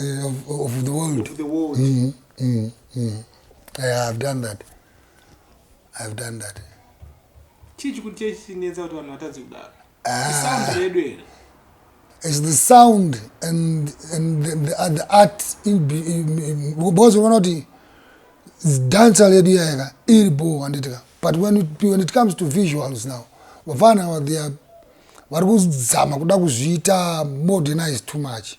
uh, of, of the world of the world mm, mm, mm. Yeah, I've done that I've done that chii chikuti chee chinetsa kuti vanhu vatadzi kudaro ah. isound redu here is the sound and and the, the, uh, the art because unoona kuti dancer ledu yayaka iri bho handitika but when it, when it comes to visuals now vafana ava they are vari kuzama kuda kuzviita modernize too much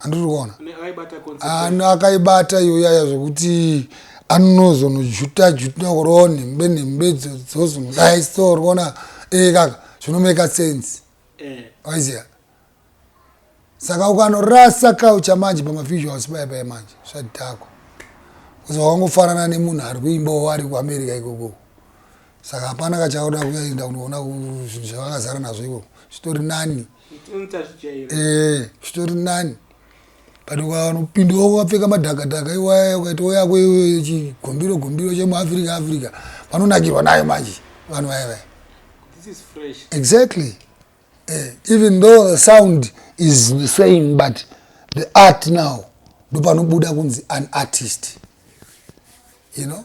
andiri kuona ano akaibata iyoyaya zvekuti anozonojuta juta kuroo nhembe nhembe dzozomudai so rikuona ee kaka zvinomeka sense eh. waiziva saka ukanorasa kaucha manje pamavisuals paya paya manje zvadhakwa kuzi wakangofanana nemunhu ari kuimbawo ari kuamerica ikokoko saka hapana kachauda kuenda kunoona zvinhu zvavakazara nazvo ivo zvitori nani eh, zvitori nani but ukanopinda wako wapfeka madhakadhaka iwaya ukaita woyako iwe chigombiro gombiro chemuafrica africa vanonakirwa nayo manje vanhu vaya vaya exactly eh, even though the sound is the same but the art now ndopanobuda kunzi an artist you know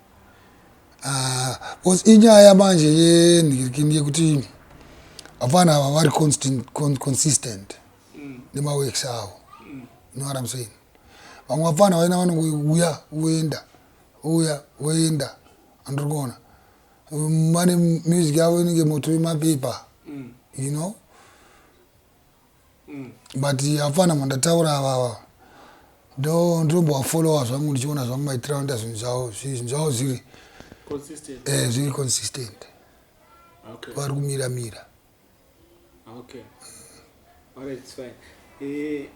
Ah, because inyaya manje yenhirikini yekuti vapfana ava vari consistent mm. nemaworks avo mm. know what I'm saying vamwe vapfana vaina vanouya voenda uya voenda andiri kuona vane music yavo inenge moto yemapepa mm. you know mm. but hapana mandataura avava ndotombovafollowa zvangu ndichiona zvangu maitiro anoita zvinhu zvavo zvinhu zvavo zviri eh, zviri consistent okay. vari kumira mira okay. Eh,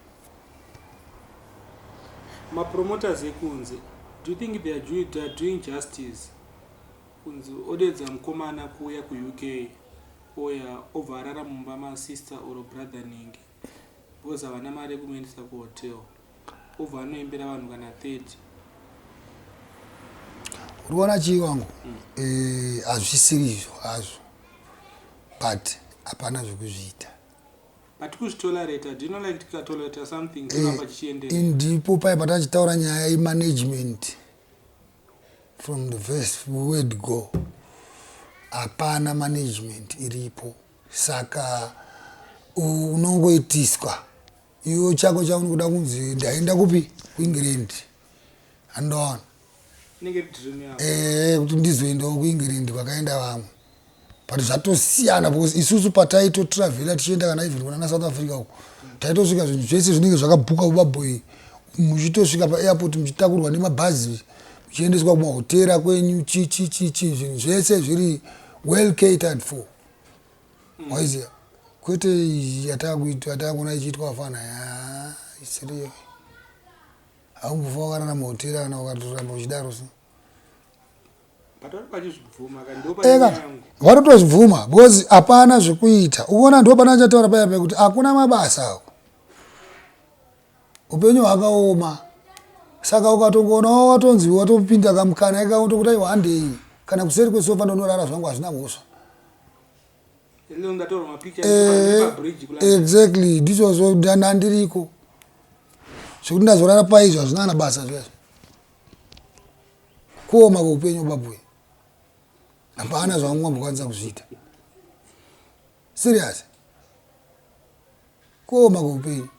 mapromoters ekunze do you think they are doing, they are doing justice kunzi odedza mukomana kuuya kuuk Oya obva arara mumba ma sister or brother nhingi because havana mari yekumuendesa ku hotel obva anoimbira vanhu kana 30. Uri kuona chii wangu? Mm. Eh, hazvisiri izvo hazvo but hapana zvekuzviita but kuzvitolerata do you know like tikatolerata something eh, chinova chichienderera ndipo paye patachitaura nyaya yemanagement From the first word go hapana management iripo saka unongoitiswa iwo chako chaunokuda kunzi ndaenda kupi kuengland andoona eh, kuti ndizoendawo kuengland kwakaenda vamwe but zvatosiyana because isusu pataito travela tichienda kana even kunana south africa uko taitosvika zvinhu zvese zvinenge zvakabhuka ubaboy muchitosvika paairport muchitakurwa nemabhazi muchiendeswa kumahotera kwenyu chichichichi zvinhu zvese zviri well catered for waiziva kwete yataakuona ichiitwa afana isiriyo haungufa wakarara mahotera kana ukatoramba uchidaro so eka varotozvibvuma because hapana zvekuita uona ndo pana achataura paya pekuti hakuna mabasa awo upenyu hwakaoma saka ukatongoona watonzi watopinda kamukana ikaotokuti aiwa handei kana kuseri kwesofa ndonorara zvangu hazvina mhosva eh, exactly ndichozvo ndandiriko zvekuti ndazorara paizvo hazvina kana basa zvezvo kuoma kweupenyu babuwe hapana zvamungambokwanisa kuzviita serious kuoma kweupenyu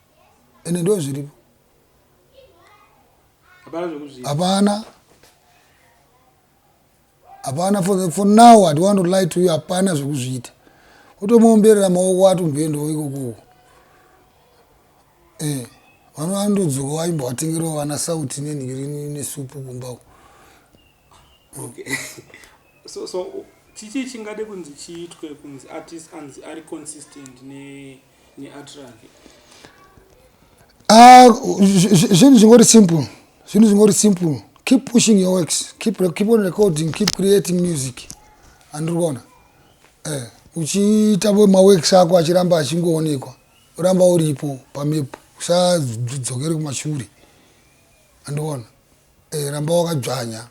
ende ndo zviripo hapana Hapana for, for now I don't want to lie to you hapana zvekuzviita. Utomuomberera maoko ati umboendawo ikoko. Eh. Vano vandodzoka vaimbo vatengerawo vana sauti nenhikirinu nesupu kumba uko. Okay. so so chichi chingade kunzi chiitwe kunzi artist anzi ari consistent ne Ah, zvinhu zvingori simple zvinhu zvingori simple keep pushing your works keep, keep on recording keep creating music andiri kuona eh, uchiita maworks ako achiramba achingoonekwa uramba uripo pamepo usadzokere kumashure andiona eh, ramba wakadzvanya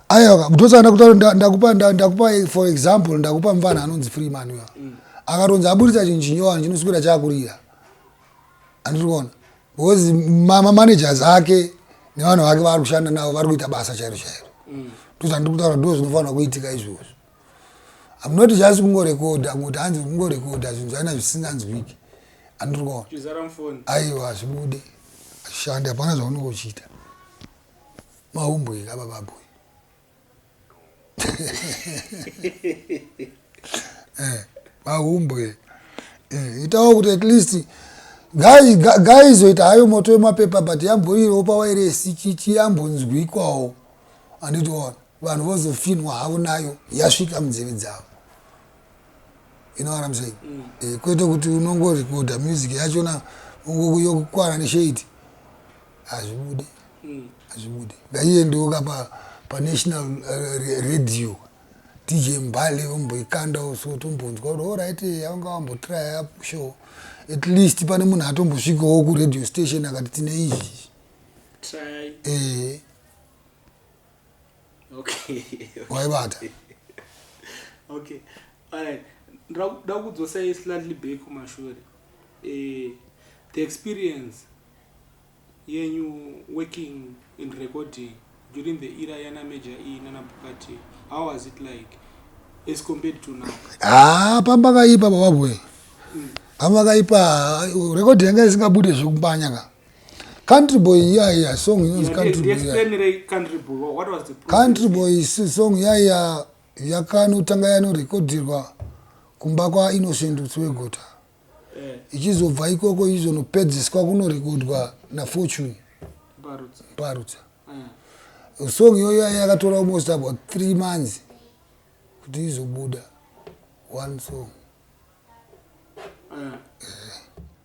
aiwa ndosaka ndakutaura nda- ndakupa nda- ndakupa for example ndakupa mvana anonzi free manuel akatonzi aburitsa chinhu chinyowani chinoswira chakurira andiri kuona because ma- mamanagers ake nevanhu vake vaari kushanda navo vari kuita basa chairo chairo ndosaka ndiri kutaura ndo zvinofanira kuitika izvozvo I'm not just kungorekodha kungoti hanzi kungorekodha zvinhu zvaina zvisinganzwiki andrikona aiwa hazvibude ashandi hapana zvaunenge uchiita maumbwika bababwe eh, maumbwe eh, itawo kuti at least gaizoita hayo moto wemapepa but yamboriropa wairesi chichiyambonzwikwawo anditiona vanhu vozofinhwa havo nayo yasvika munzeve dzavo you know what I'm saying mm. eh, kwete kuti unongorekodha music yachona yokukwana neshade hazvibude mm. hazvibude ngaiendewo ka pa, pa national uh, radio dj mbale vomboikandawo so tombonzwa kuti orit eh, avanga vambotraya apo show at least pane munhu atombosvikawo kuradio station akati tine izvi eh. okay waibata okay alright ndakuda kudzosai slightly back kumashure eh the experience yenyu working in recording during the era yana major e nana bukati how was it like as compared to now ah pamba kaipa baba boy mm. pamba kaipa record yanga isingabude zvekumbanya ka Country boy yeah yeah song inonzi country boy. Explain re country boy what was the problem? Country boy song yeah yeah yakanotanga yanorekodirwa kumba kwa Innocent Utswegota. Eh. Ichizobva ikoko izonopedziswa kunorekodwa na Fortune. Parutsa. Parutsa. Eh. Song iyoyo yeah, yakatora yeah, almost about 3 months kuti izobuda one song. Eh. Eh.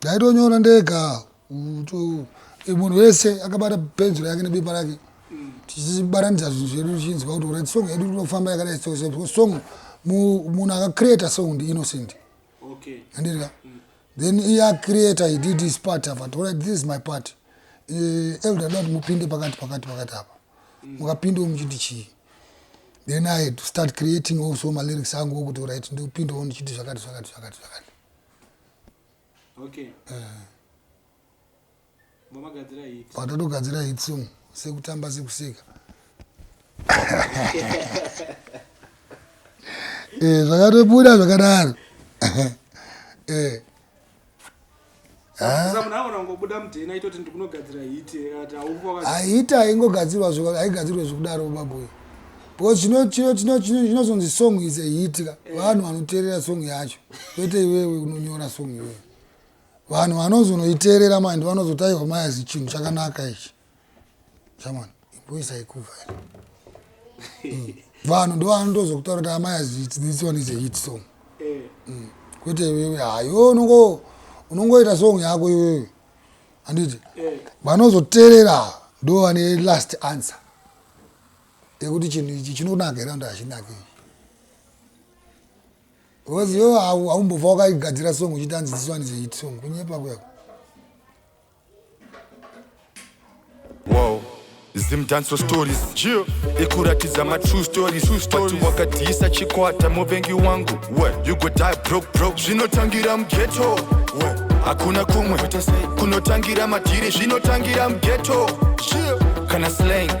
Ndaitonyora ndega munhu wese akabata penzura yake nebepa rake mm. tichibaranidza zvinhu zvedu tichinzwa kuti uri song yedu tinofamba yakadai so so song munhu akacreata song ndi innocent okay andirika mm. then iye acreata he did his part apa tora this is my part uh, elder dot mupinde pakati pakati pakati apa mm. mukapinde mm. muchiti chii then i had to start creating also malyrics angu okuti right ndipindewo ndichiti zvakati zvakati zvakati zvakati okay eh mamagadzira hit patatogadzira hit song sekutamba sekuseka eh zvakatobuda zvakadaro eh ahita aingogadzirwa aigadzirwa zvekudaro baboyo because chino chino chino chino chinozonzi song is a hit ka eh. vanhu vanoteerera song yacho kwete iwewe unonyora song iwewe vanhu vanozonoiteerera mandi vanozotaiwa mayazi chinhu chakanaka ichi chamwana imboisa ikuva hmm. vanhu ndo vanotozokutaura kuti amayazi this one is a hit song eh. hmm. kwete iwewe hayo unongo unongoita song yako iwewe handiti eh. vanozoteerera ndo vane last answer yekuti chinhu ichi chinonaka here anda hachinake ichi because iwewe haumbobva wakaigadzira song uchiti anzi this one is a hit song kunyepa kuyako Zim dancer stories yeah. ikuratidza ma true stories vati wakadhiyisa chikwata muvengi wangu What? you go die broke broke zvinotangira mugeto hakuna kumwe kunotangira madhiri zvinotangira mugeto yeah. kana slang